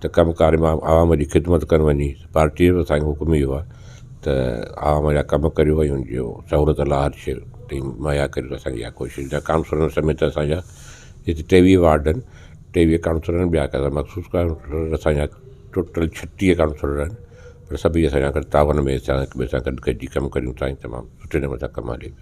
ته ڪم ڪار مان عوام جي خدمت ڪرڻ وڃي پارٽي جو اسانکي حڪم اهو آهي ته عوام جا ڪم ڪريو ۽ ان جي سهولت لاء هر شيء تي مهيا ڪريو اسانجي اها ڪوشش جا ڪانسلر سميت اسانجا هتي ٽيويهه وارڊ آهن ٽيويهه ڪانسلر آهن ٻيا ڪا مخصوص ڪانسلر اسانجا ٽوٽل ڇٽيهه ڪانسلر آهن پر سڀئي اسان سان گڏ تعاون ۾ اسان هڪ ٻئي سان گڏ گڏجي ڪم ڪريون ٿا ۽ تمام سٺي نموني سان ڪم هلي پيو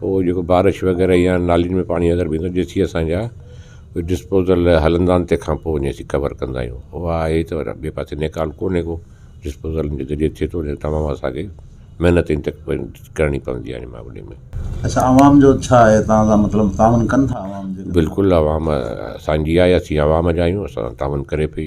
پوء جيڪو بارش وغيره يا نالين ۾ پاڻي اگر بيهندو جيسين اسانجا ڊسپوزل هلندا آهن تنهن کان پوء وڃي اسين ڪور ڪندا آهيون هوا آهي ته وري ٻئي پاسي نيڪال ڪونهي ڪو ڊسپوزل جي ذريعي ٿئي ٿو جنهن تمام اسانکي محنت ۽ تڪليف ڪرڻي پوندي آهي ماڳوڏي ۾. اچا عوام جو ڇا آهي توهان سان مطلب تعاون ڪن ٿا عوام جيڪڏهن. بلڪل عوام اسانجي آهي اسين عوام جا آهيون اسان سان تعاون ڪري پئي.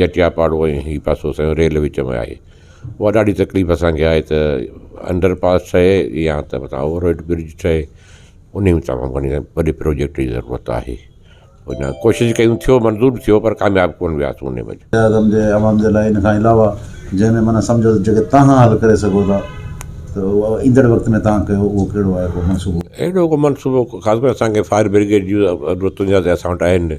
جٽيا پاڙو ۽ هي پاسو اسان جو ريل وچ ۾ آهي اها ڏاڍي تڪليف اسان کي آهي ته انڊر پاس ٺهي يا ته متان اوور هيڊ برج ٺهي ان ۾ تمام گهڻي وڏي پروجيڪٽ جي ضرورت آهي اڃا ڪوشش ڪيون ٿيو منظور به ٿيو پر ڪامياب ڪون وياسون ان مل. وزيراعظم جي عوام جي لاء ان کان علاوه جنهن ۾ معنيٰ سمجهو ته جيڪي توهان حل ڪري سگهو ٿا ته اهو ايندڙ وقت ۾ توهان ڪيو اهو ڪهڙو آهي ڪو منصوبو؟ اهڙو ڪو منصوبو خاص ڪري اسان کي فائر بريگيڊ جون ضرورتون زيادي اسان وٽ آهن نه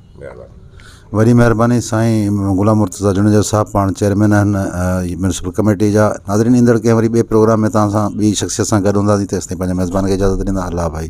وڏي مهرباني سائين غلام مرتضيٰ جوڻيجو صاحب پاڻ چيئرمين آهن ميونسپل ڪميٽي جا ناظرين ايندڙ ڪنهن وري ٻئي پروگرام ۾ تان سان ٻي شخصيت سان گڏ هونداسين تيسين تائين پنهنجي ميزبان کي اجازت ڏيندا الله ڀائي